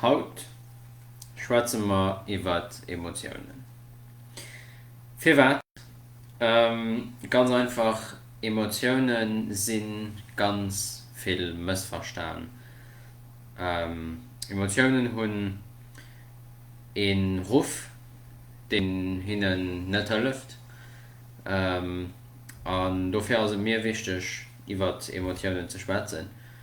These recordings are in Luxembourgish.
Haut schwätze mer iwwer Emotiounen. Firwat? Ganz einfach, Emotioune si ganz vill mëssverstan. Emotiounen hunn ee Ruff, deen hinnen net hëlleft. An dofir ass et mir wichteg, iwwer Emotiounen ze schwätzen.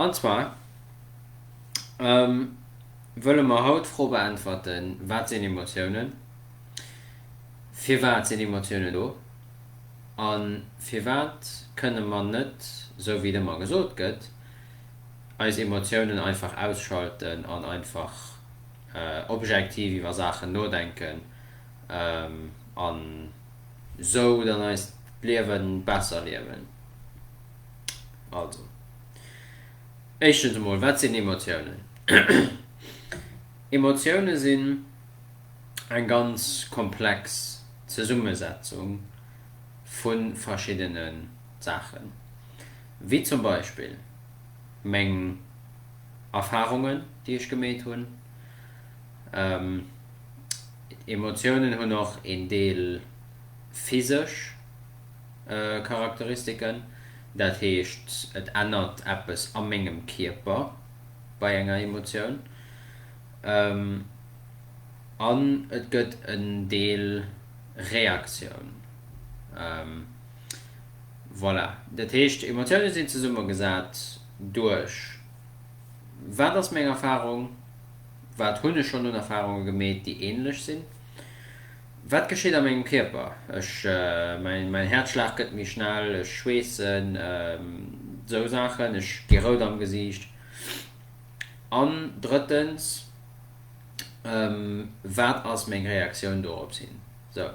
An zwar wëlle mer haut d'Fro beäntwerten, Wat sinn Emotiounen? Firwat sinn Emotiounen do? A firwat kënne mer net, esou wéi et ëmmer gesot gëtt, eis Emotiounen einfach ausschalten an einfach objektiv iwwer Saachen nodenken an esou dann eist Liewen besser liewen? Also, éischtens emol, wat sinn Emotiounen? Emotiounen sinn eng ganz komplex Zesummesetzung vu verschiddene Saachen, wéi zum Beispill meng Erfarungen, déi ech gemeet hunn. Emotiounen hunn och een Deel physesch. Charakteristiken, dat heescht et ännert eppes a mengem Kierper bei enger Emotioun an et gëtt en Deel Reaktioun. Voilà, dat heescht Emotioune sinn zesummegesat duerch, wat ass meng Erfarung, wat hunn ech schonn un Erfarunge gemeet, déi änlech sinn. Wat gescheet a mengem Kierper? Ech, mäin Häerzschlag gëtt méi schnell, ech schweessen, esou Saachen, ech gi rout am Gesiicht. An drëttens, wat ass meng Reaktioun dorops hin? Esou.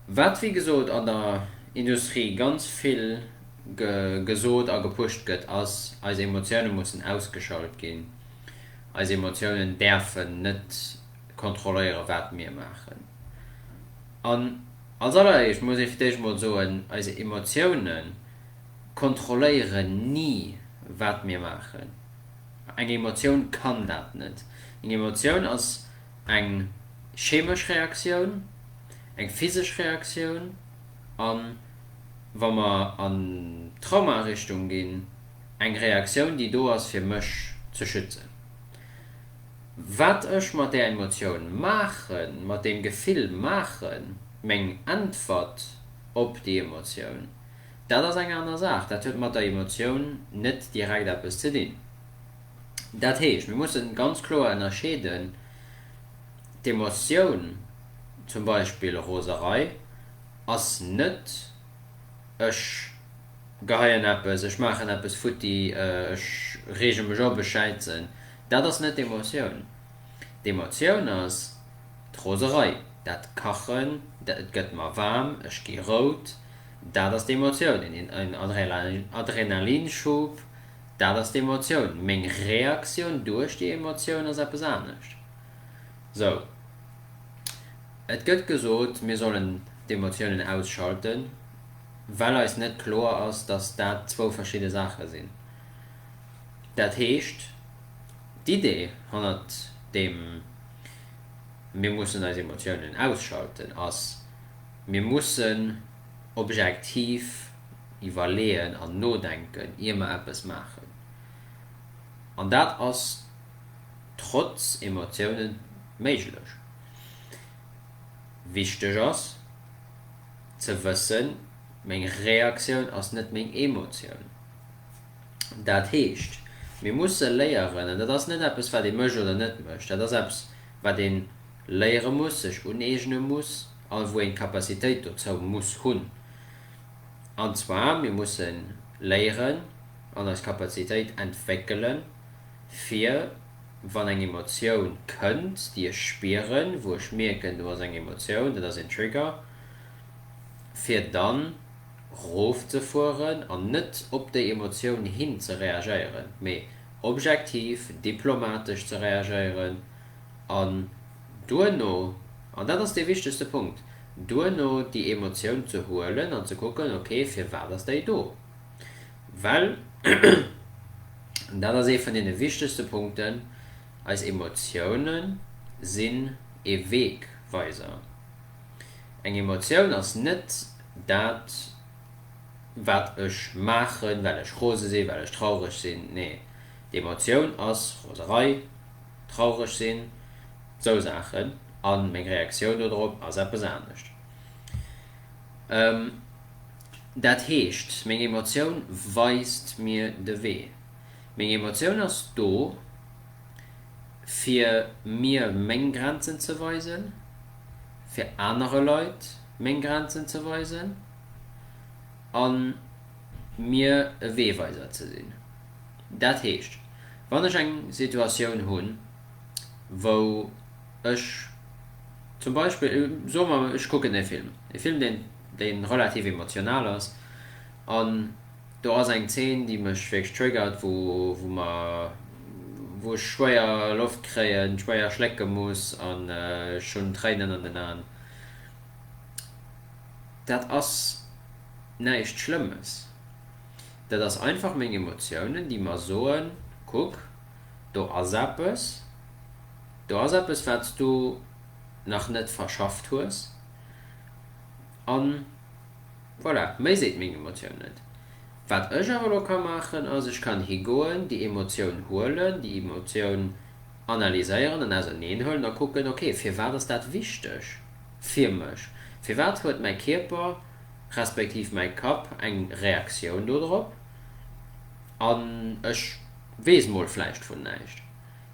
Wat wéi gesot an der Industrie ganz vill gesot a gepusht gëtt, ass, eis Emotioune mussen ausgeschalt ginn, eis Emotiounen däerfen net. kontrolléieren, wat mir maachen. An als alleréischt muss ee fir d'éischt emol soen, eis Emotioune kontrolléieren ni, wat mir maachen. Eng Emotioun kann dat net. Eng Emotioun ass eng chemesch Reaktioun, eng physesch Reaktioun a wa mer an d'Trauma-Richtung ginn, eng Reaktioun, déi do ass, fir mech ze schützen. Wat ech mat där Emotioun maachen, mat deem Gefill maachen, meng Äntwert op déi Emotioun, dat ass eng aner Saach. Dat huet mat der Emotioun net direkt eppes ze dinn. Dat heescht, mir musse ganz kloer ënnerscheeden, d'Emotioun, zum Beispill Roserei, ass net, ech geheien eppes, ech maachen eppes futti, ech reege mech op, ech schäitzen. Dat ass net d'Emotioun. D'Emotioun ass d'Roserei, dat Kachen, et gëtt mer waarm, ech gi rout, dat ass d'Emotioun, en Adrenalinschub, dat ass d'Emotioun. Meng Reaktioun duerch déi Emotioun ass eppes anescht. Sou, et gëtt gesot, mir sollen d'Emotiounen ausschalten, well eis net kloer ass, dass dat zwou verschidde Saache sinn. Dat heescht, d'Idee hannert deem Mir mussen eis Emotiounen ausschalten ass, Mir mussen objektiv iwwerleeën an nodenken, ier mer eppes maachen. An dat ass trotz Emotioune méiglech. Wichteg ass ze wëssen, Meng Reaktioun ass net meng Emotioun. Dat heescht, mir musse léieren, an dat ass net eppes, wat ee mécht oder net mécht, dat ass eppes, wat ee léiere muss, sech uneegne muss, all wou een d'Capacitéit dozou muss hunn, an zwar, mir musse léieren an eis Capacitéit entwéckelen, fir wann eng Emotioun kënnt, déi ech spieren, wou ech mierken, do ass eng Emotioun, dat ass een Trigger, fir dann. rofzefueren an net op déi Emotioun hin ze reagéieren, mee objektiv, diplomatesch ze reagéieren an duerno, an dat ass dee wichtegste Punkt, duerno déi Emotioun ze huelen an ze kucken, ok, firwat ass déi do? Well, an dat ass ee vun deene wichtegste Punkten, eis Emotioune sinn ee Wegweiser. Eng Emotioun ass net dat, wat ech maachen, well ech rose sinn, well ech traureg sinn. Nee, d'Emotioun ass Roserei, traureg sinn, sou Saachen, a meng Reaktioun dodrop ass eppes anescht. Dat heescht, meng Emotioun weist mir de Wee. Meng Emotioun ass do, fir mir meng Grenzen ze weisen. fir anere Leit meng Grenzen ze weisen a mir e Weeweiser ze sinn. Dat heescht, wann ech eng Situatioun hunn, wou ech zum Beispill, soe mer, ech kucken e Film, e Film, deen relativ emotional ass, an, Do ass eng Zeen déi mech wierklech triggert, wou mer, wou ech schwéier Loft kréien, schwéier schlécke muss an ech hunn Tréinen an den Aen. Dat ass näischt Schlëmmes, dat ass einfach meng Emotiounen déi mer soen, kuck do ass eppes, do ass eppes wat s du nach net verschafft hues an. Voilà, méi seet meng Emotioun net. Wat ech awer elo ka maachen ass, ech kann higoen, déi Emotioun huelen, déi Emotioun analyséieren an auserneen huelen a kucken, ok, firwat ass dat wichteg fir mech? Firwat huet mäi Kierper respektiv mäi Kapp eng Reaktioun do drop an ech weess mol vläicht vun näischt?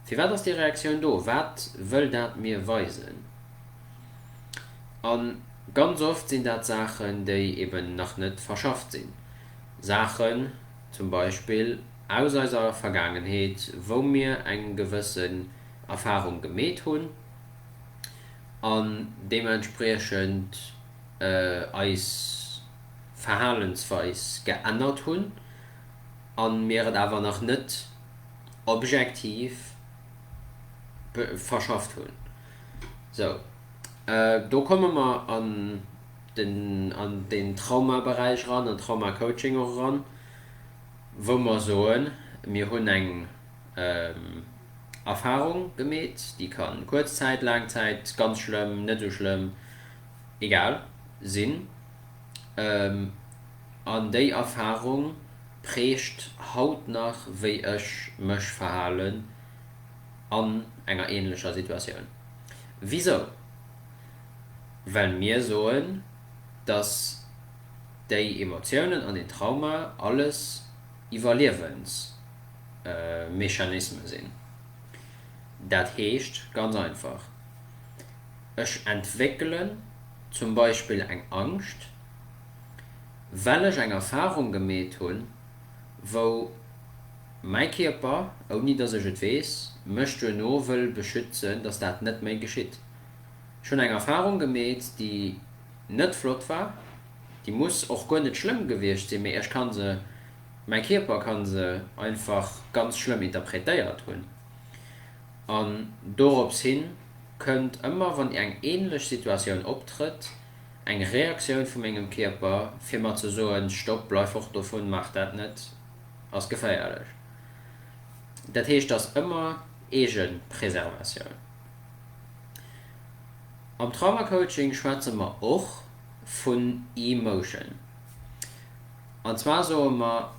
Firwat ass déi Reaktioun do? Wat wëll dat mir weisen? A ganz oft sinn dat Saachen, déi eben nach net verschafft sinn. Saachen zum Beispill aus eiser Vergaangenheet, wou mir eng gewëssen Erfahrung gemeet hunn an deementspriechend eis Verhalensweis geännert hunn a mir et awer nach net objektiv verschafft hunn. Sou, do komme mer an den, an deen Traumaberäich eran, an Traumacoaching och eran, wou mer soen, mir hunn eng Erfahrung gemeet, déi ka kuerz Zäit, laang Zäit, ganz schlëmm, net esou schlëmm, egal, sinn, an déi Erfahrung prägt haut nach, wéi ech mech verhalen. an enger ähnlecher Situatioun. Wisou? Well mir soen, dass déi Emotiounen an den Trauma alles Iwwerliewensmechanisme sinn. Dat heescht ganz einfach, Ech entwéckelen zum Beispill eng Angscht, well ech eng Erfahrung gemeet hunn, wou mäi Kierper, ouni dass ech et weess, mech duerno wëll beschützen, dass dat net méi geschitt. Ech hunn eng Erfarung gemeet, déi net flott war, déi muss och guer net schlëmm gewiescht sinn, mee ech kann se, mäi Kierper ka se einfach ganz schlëmm interpretéiert hunn. An dorops hin kënnt ëmmer, wann eng änlech Situatioun optrëtt, Eng Reaktioun vu mengem Kierper, fir mer ze soen, Stopp, bleif fort dovun, maach dat net, ass geféierlech. Dat heescht, et ass ëmmer Eegepreservatioun. Am Traumacoaching schwätze mer och vun Emotion. An zwar soe mer,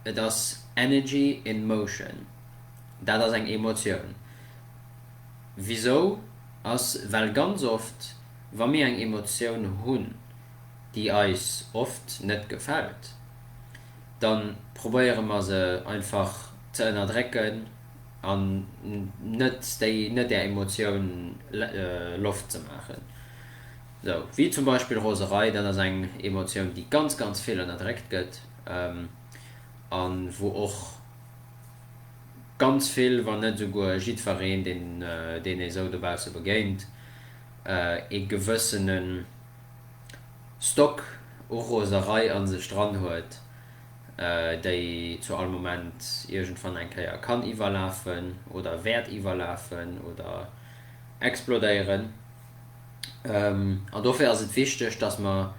et ass Energy in motion. Dat ass eng Emotioun. Wisou? Ass, well ganz oft Wa mir eng Emotioun hunn, déi eis oft net gefält, da probéiere mer se einfach ze ënnerdrécken an net déi net där Emotioun Loft ze maachen. Sou wéi zum Beispill Roserei, dat ass eng Emotioun, déi ganz, ganz vill ënnerdréckt gëtt a wou och ganz vill, wann net esouguer jiddwereen, deen ee sou dobausse begéint, ee gewëssene Stock u Roserei a sech dran huet, déi zu all Moment iergendwann eng Kéier kann iwwerlafen oder wäert iwwerlafen oder explodéieren. An dofir ass et wichteg, dass mer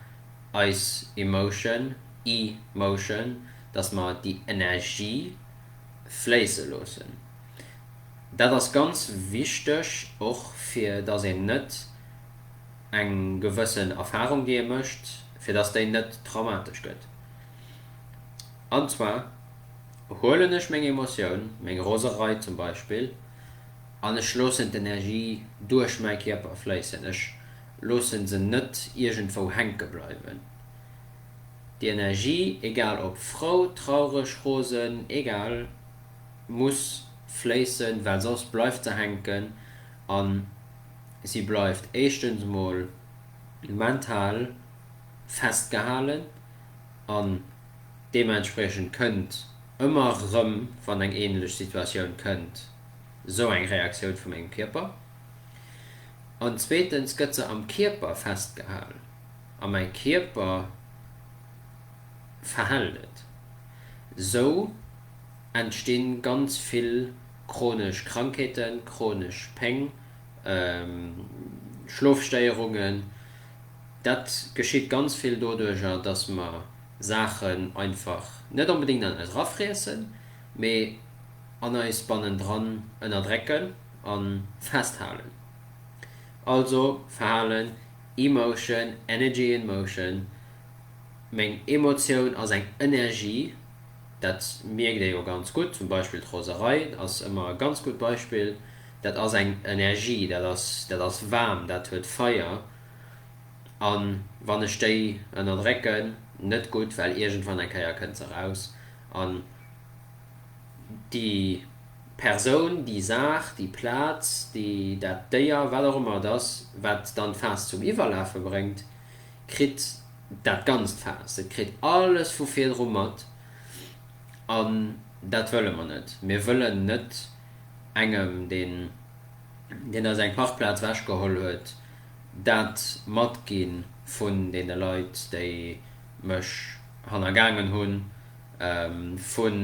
eis Emotion, E-motion, dass mer déi Energie fléisse loossen. Dat ass ganz wichteg, och fir dass een net eng gewëssen Erfahrung, déi ee mécht, fir dass déi net traumatesch gëtt. An zwar huelen ech meng Emotioun, meng Roserei zum Beispill, an ech loossen d'Energie duerch mäi Kierper fléissen. Ech loosse se net iergendwou hänke bleiwen. Déi Energie, egal ob frou, traureg, rosen, egal. muss fléissen, well soss bleift se hänken a si bleift éischtens mol mental festgehalen an deementspriechend kënnt ëmmer rëm, wann eng änlech Situatioun kënnt, esou eng Reaktioun vu mengem Kierper. An zweetens gëtt se am Kierper festgehal a mäi Kierper verhält et esou. entstinn ganz vill chronesch Krankheeten, chronesch Péng, Schlofstéierungen. Dat geschitt ganz vill doduerjer, dass mer Saachen einfach net onbedéngt an eis erafriessen, mee an eis bannendran ënnerdrécken a festhalen. Also Verhalen, Emotion, Energy in motion, meng Emotioun ass eng Energie. Dat mierkt ee jo ganz gutt, zum Beispill d'Roserei ass ëmmer e ganz gutt Beispill. Dat ass eng Energie, dat ass, dat ass waarm, dat huet Feier. A wann ech déi ënnerdrécken, net gutt, well iergendwann eng Kéier kënnt se eraus. An déi Persoun, déi Saach, déi Plaz, déi, dat Déier, wat och ëmmer et ass, wat dann d'Faass zum Iwwerlafe bréngt, kritt. Dat ganzt Faass, et kritt alles vu virdru mat. An dat wëlle mer net. Mir wëllen net engem, deen eis eng Parkplaz wechgeholl huet, dat matgi vun deene Leit, déi mech hannergaangen hunn, vun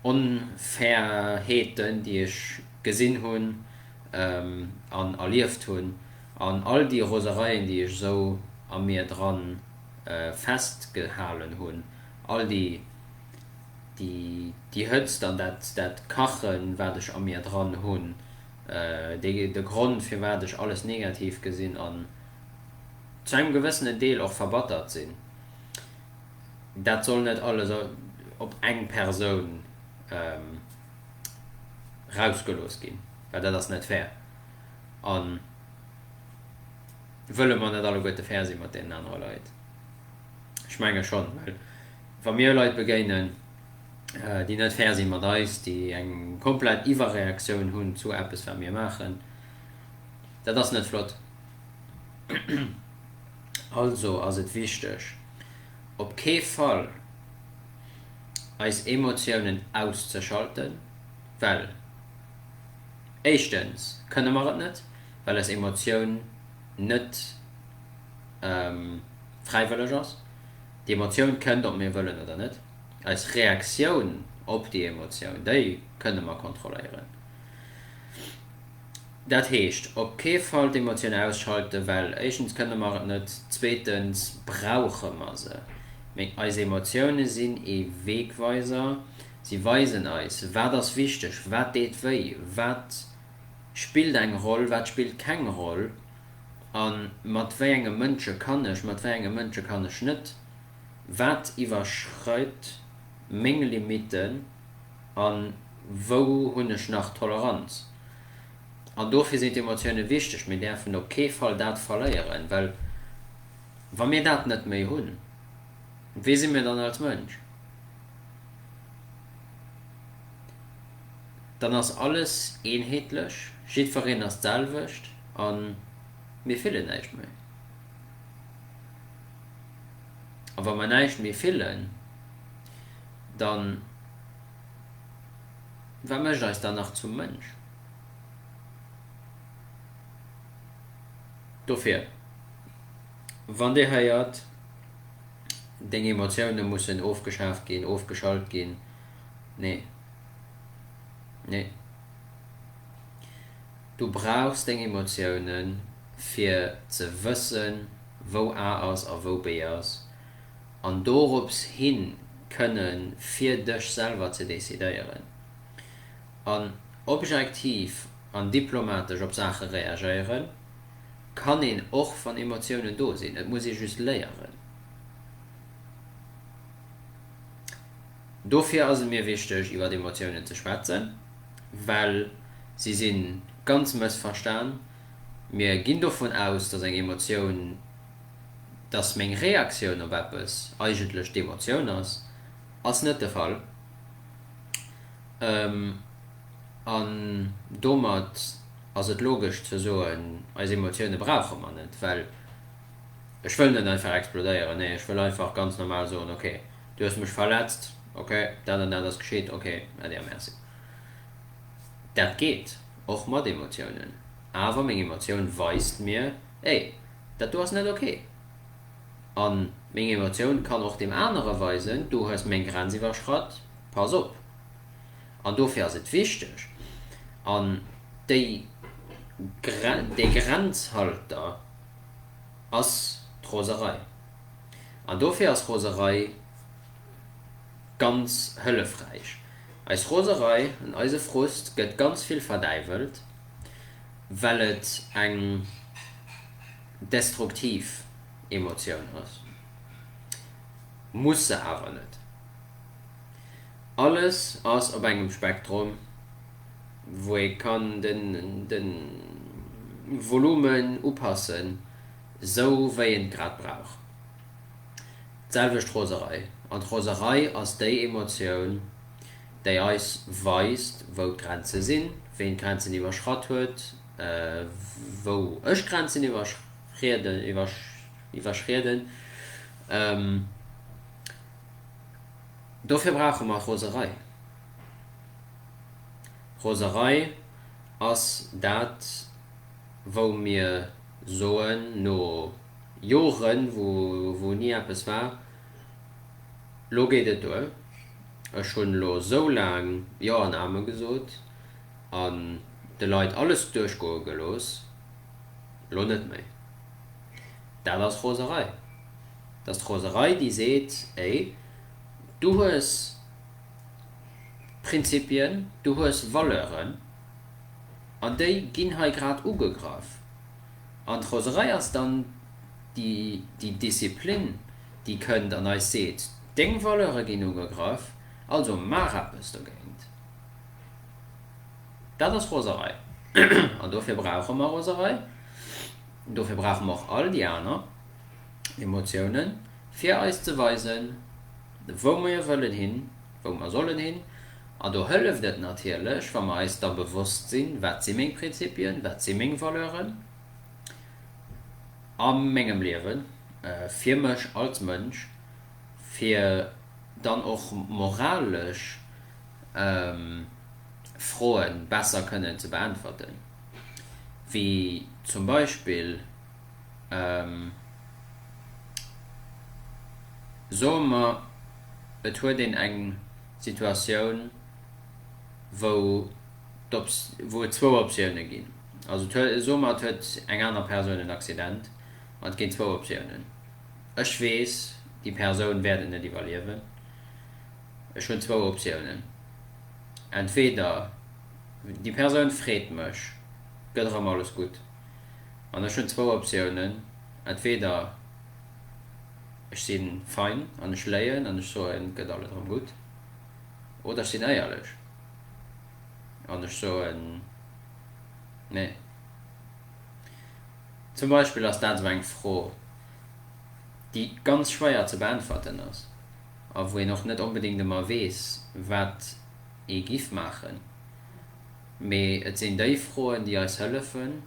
Onfairheeten, déi ech gesinn hunn an erlieft hunn. An all déi Rosereien, déi ech esou a mir dran festgehalen hunn, all déi, déi, déi Hëtzt an dat, dat Kachen, wat ech a mir dran hunn, déi, de Grond, firwat ech alles negativ gesinn an zu engem gewëssenen Deel och verbattert sinn, dat soll net alles op eng Persoun erausgelooss ginn, well dat ass net fair. a wëlle mer net alleguerte fair si mat deenen anere Leit? Ech menge schonn, well wa mir Leit begéinen, déi net fair si mat eis, déi eng komplett Iwwerreaktioun hunn zu eppes wat mir maachen, dat ass net flott. Also ass et wichteg, op kee Fall eis Emotiounen auszeschalten, well. Éischtens kënne mer et net, well eis Emotioun net fräiwëlleg ass. Déi Emotioun kënnt, ob mir wëllen oder net. Eis Reaktioun op déi Emotioun, déi kënne mer kontrolléieren. Dat heescht op kee Fall d'Emotioun ausschalte well éischtens kënne mer et net, zweetens brauche mer se. Mee eis Emotioune sinn ee Wegweiser. Si weisen eis, wat ass wichteg, wat deet wéi, wat spillt eng Roll, wat spillt keng Roll a mat wéi enge Mënsche kann ech, mat wéi enge Mënsche kann ech net, wat iwwerschreit meng Limitten a wou hunn ech nach Toleranz. An dofir sinn d'Emotioune wichteg. Mir däerfen op kee Fall dat verléieren, well wa mir dat net méi hunn, Wee si mir dann als Mënsch? Dann ass alles eenheetlech, jiddwereen ass d'selwecht a mir fillen näischt méi. A wa mer näischt méi fillen, da wat mécht eis dann nach zum Mënsch? Dofir. Wann Dir héiert, deng Emotioune mussen ofgeschaaft ginn, ofgeschalt ginn, nee, nee. Du brauchs deng Emotioune fir ze wëssen, wou A ass a wou B ass, an dorops hin kënne fir dech selwer ze decidéieren an objektiv an diplomatesch op Saache reagéieren. Kann een och wann Emotiounen do sinn, et muss ee just léieren. Dofir ass et mir wichteg iwwer Emotiounen ze schwätzen, well si si ganz mëssverstan. Mir ginn dovun aus, dass eng Emotioun, dass meng Reaktioun op eppes eigentlech d'Emotioun ass, ass net de Fall an domat. ass et logesch ze soen, eis Emotioune brauche mer net, well ech wëll net einfach explodéieren, nee, ech wëll einfach ganz normal soen, ok, du hues mech verletzt, ok, dat an dat ass geschitt, ok, äddi a merci. Dat geet och mat Emotiounen, awer meng Emotioun weist mir, ey, dat do ass net ok. A meng Emotioun kann och deem anere weisen, du hues meng Grenz iwwerschratt, pass op. An dofir ass et wichteg, an déi dee Grenzhalter ass d'Roserei. An dofir ass Roserei ganz hëllefräich. Eis Roserei an eise Frust gëtt ganz vill verdäiwelt, well et eng destruktiv Emotioun ass, muss se awer net. Alles ass op engem Spektrum, wou ee kann de Volumen upassen, sou wéi een et grad brauch. D'selwecht d'Roserei. An d'Roserei ass déi Emotioun, déi eis weist, wou d'Grenze sinn, ween d'Grenzen iwwerschratt huet, wou ech d'Grenzen iwwerschrieden. Dofir brauche mer Roserei. Roserei ass dat, wou mir soen, no Joren, wou ni eppes war, Lo geet et duer. Ech hunn elo esou laang Jo an Amen gesot an de Leit alles duerchgoe gelooss. Elo net méi. Dat ass Roserei. 't ass d'Roserei, déi seet, Ey, du hues Prinzipien, du hues Valeuren, an déi ginn hei grad ugegraff. An d'Roserei ass dann déi Disziplin, déi kënnt an eis seet, Deng Valeure ginn ugegraff, also maach eppes dogéint. Dat ass Roserei. An dofir brauche mer Roserei. Dofir brauche mer och all déi aner. Emotiounen, fir eis ze weisen, wou mir wëllen hin, wou mer sollen hin. An do hëlleft et natierlech, wa mer eis da bewosst sinn, Wat si meng Prinzipien? Wat si meng Valeuren a mengem Liewen, fir mech als Mënsch, fir dann och moralesch Froe besser kënnen ze beäntwerten, wéi zum Beispill, Soe mer et huet een eng Situatioun, wou et zwou Optiounen ginn, also soe mer et huet eng aner Persoun en Accident an et ginn zwou Optiounen, ech weess déi Persoun wäert et net iwwerliewen, ech hunn zwou Optiounen, entweder déi Persoun freet mech, gëtt erëm alles gutt. An ech hunn zwou Optiounen, entweder ech si fein an ech léien an ech soen, et gëtt alles erëm gutt, oder ech sinn éierlech an ech soen, nee. Zum Beispill ass dat esou eng Fro, déi ganz schwéier ze beäntwerten ass a wou een och net onbedéngt ëmmer weess, wat ee giff maachen. Mee et sinn déi Froen, déi eis hëllefen,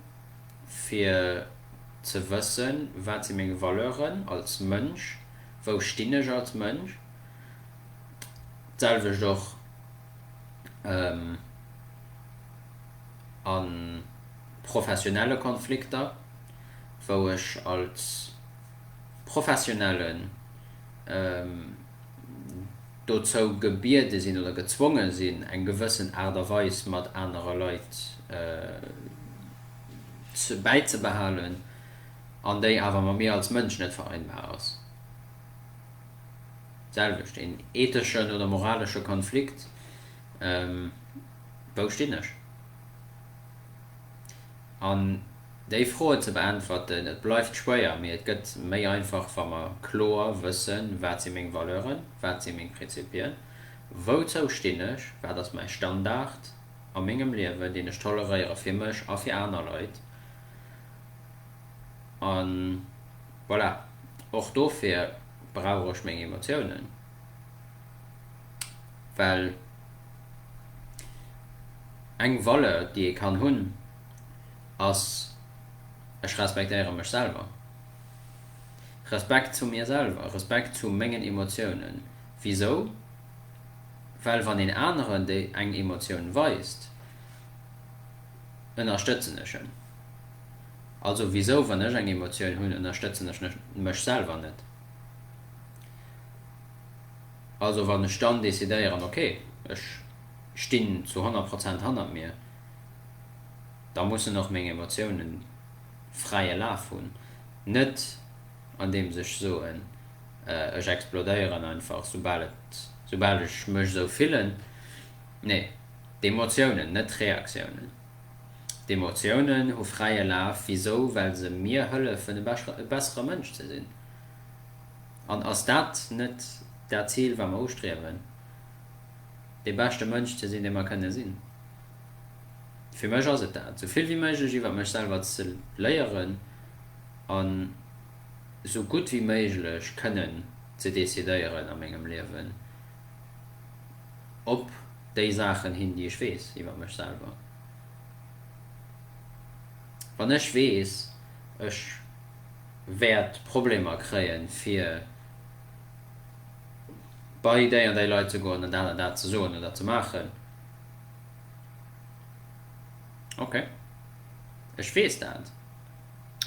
fir ze wëssen, Wat si meng Valeuren als Mënsch? Wou stinn ech als Mënsch? D'selwecht och a professionelle Konflikter, wou ech als Professionellen dozou gebiede sinn oder gezwonge sinn, eng gewëssen Aart a Weis mat anere Leit bäizebehalen, an déi awer mat mir als Mënsch net vereinbar ass. D'selwecht, een etheschen oder moralesche Konflikt, Wou stinn ech? Déi Froe ze beäntwerten, et bleift schwéier, mee et gëtt méi einfach, wa mer kloer wëssen, Wat si meng Valeuren? Wat si meng Prinzipien? Wouzou stinn ech? Wat ass mäi Standard a mengem Liewen, deen ech toleréiere fir mech a fir aner Leit? A voilà, och dofir brauch ech meng Emotiounen, well eng Valeur, déi ee kann hunn, ass, Ech respektéiere mech selwer. Respekt zu mir selwer, Respekt zu mengen Emotiounen. Wisou? Well wann een aneren déi eng Emotioun weist, ënnerstëtzen ech en. Also wisou, wann ech eng Emotioun hunn, ënnerstëtzen ech mech selwer net? Also wann ech dann decidéieren, ok, ech stinn zu 100 Prozent hannert mir. da mussen och meng Emotiounen fräie Laf hunn, net andeems ech soen, ech explodéieren einfach soubal et, soubal ech mech esou fillen. Nee, d'Emotiounen, net d'Reaktiounen, d'Emotiounen hu fräie Laf. Wisou? Well se mir hëllefen e bessere Mënsch ze sinn. An ass dat net dat Zil wat mer ustriewen, dee beschte Mënsch ze sinn dee mer kënne sinn? Fir mech ass et dat, sou vill wéi méiglech iwwer mech selwer ze léieren an sou gutt wéi méiglech kënnen ze decidéieren a mengem Liewen op déi Saachen hin, déi ech weess iwwer mech selwer. Wann ech weess, ech wäert Problemer kréien, fir bei déi an déi Leit ze goen an dat an dat ze soen oder ze maachen, Ok. Ech weess dat.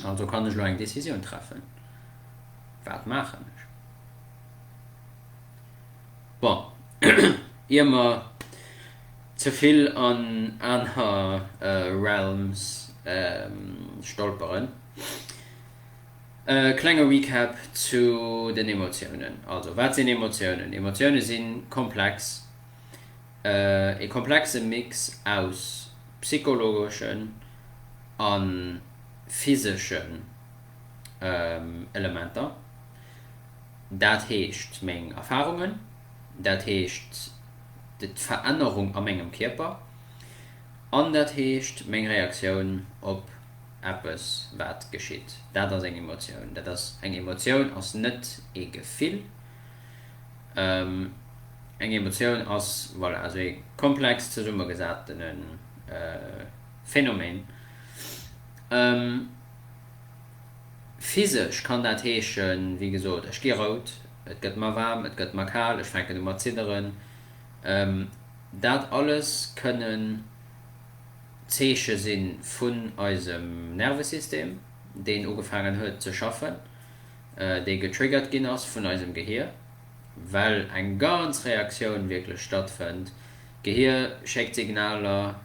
Also kann ech elo eng Decisioun treffen. Wat maachen ech? Bon, ier mer ze vill an aner Realms stolperen, e klenge Recap zu den Emotiounen. Also, wat sinn Emotiounen? Emotiounen si komplex. E komplexe Mix aus psychologeschen a physeschen Elementer, dat heescht meng Erfarungen, dat heescht d'Verännerung a mengem Kierper an dat heescht meng Reaktioun op eppes wat geschitt. Dat ass eng Emotioun. Dat ass eng Emotioun, ass net ee Gefill. Eng Emotioun ass, voilà, esou ee komplex zesummegesattene Phänomen. Physesch kann dat heeschen, wéi gesot, ech gi rout, et gëtt mer waarm, et gëtt mer kal, ech fänken u mat zidderen. Dat alles kënnen Zeeche si vun eisem Nervesystem, deen ugefaangen huet ze schaffen. déi getriggert ginn ass vun eisem Gehir, well eng ganz Reaktioun wierklech stattfënnt. D'Gehir schéckt Signaler,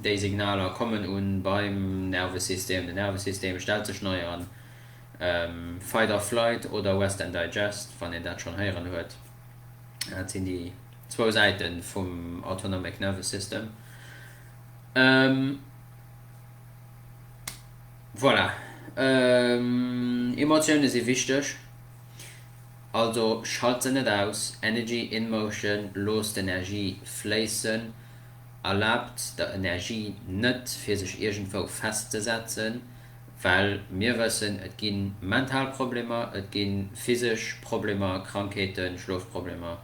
déi Signaler kommen u beim Nervesystem, den Nervesystem stellt sech nei an, Fight or Flight oder Rest and Digest, wann een dat schonn héieren huet. Dat sinn déi zwou Säite vum Autonomic Nervous System. Voilà. Emotioune si wichteg, also schalt se net aus. Energy in motion, Loosst d'Energie fléissen, erlaabt der Energie net fir sech iergendwou festzesetzen, well mir wëssen, et gi mental Problemer, et gi physesch Problemer, Krankheeten, Schlofproblemer,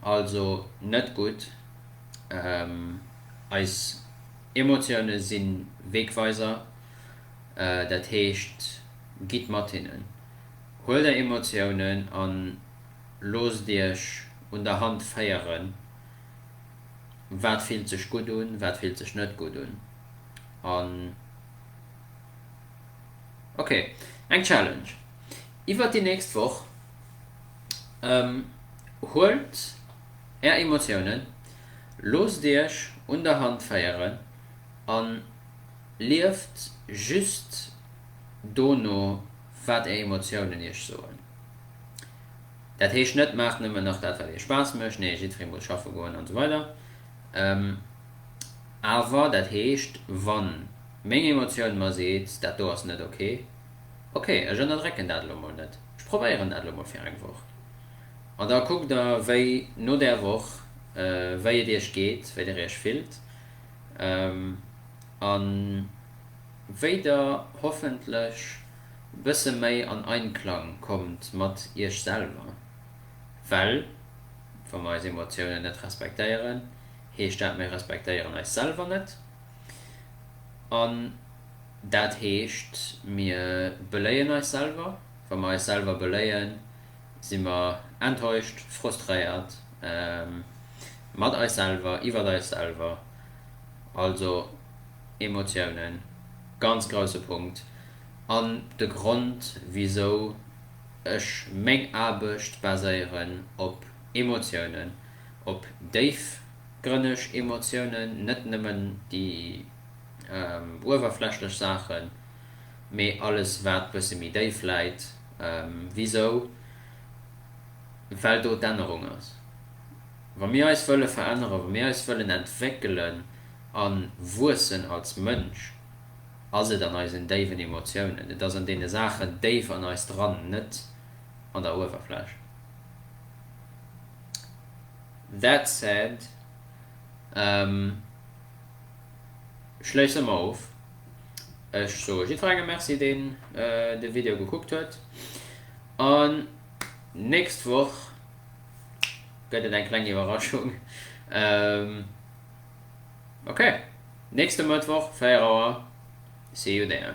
also net gutt eis. Emotioune si Wegweiser, dat heescht, gitt mat hinnen. Huelt är Emotiounen an loosst iech un der Hand féieren, wat fillt sech gutt un, wat fillt sech net gutt un. An ok, eng Challenge iwwert déi nächst Woch, huelt. Är Emotiounen, loosst Iech un der Hand féieren a lieft just do no, wat Är Emotiounen Iech soen. Dat heescht net, maacht nëmmen nach dat, wat Iech Spaass mécht, nee, jiddweree muss schaffe goen an esou weider, awer dat heescht, wa meng Emotioun mer seet, dat do ass net ok, ok, ech ënnerdrécken dat elo mol net, ech probéieren dat elo mol fir eng Woch. An da kuckt der wéi no där Woch, wéi et iech geet, wéi der iech fillt a wéi der hoffentlech e bësse méi an Einklang kommt mat iech selwer. Well wa mer eis Emotiounen net respektéieren, heescht dat mir respektéieren eis selwer net an dat heescht mir beléien eis selwer. Wa mer eis selwer beléien. si mer enttäuscht, frustréiert mat eis selwer, iwwert eis selwer, also Emotiounen, ganz grousse Punkt an de Grond wisou ech meng Aarbecht baséieren op Emotiounen, op déifgrënneg Emotiounen, net nëmmen déi uewerflächlech Saachen, mee alles wat bësse méi déif läit. Wisou? Well do d'Ännerung ass. Wa mir eis wëlle veränneren, wa mir eis wëllen entwéckelen a wuessen als Mënsch, ass et an eisen déiwen Emotiounen, et ass an deene Saachen déif an eis dran, net an der Uewerfläch. That said, schléisse mer of Ech soe jiddwerengem Merci, deen de Video gekuckt huet. An nächst Woch gëtt et eng kleng Iwwerraschung. Ok, nächste Mëttwoch 4 Auer, see you there.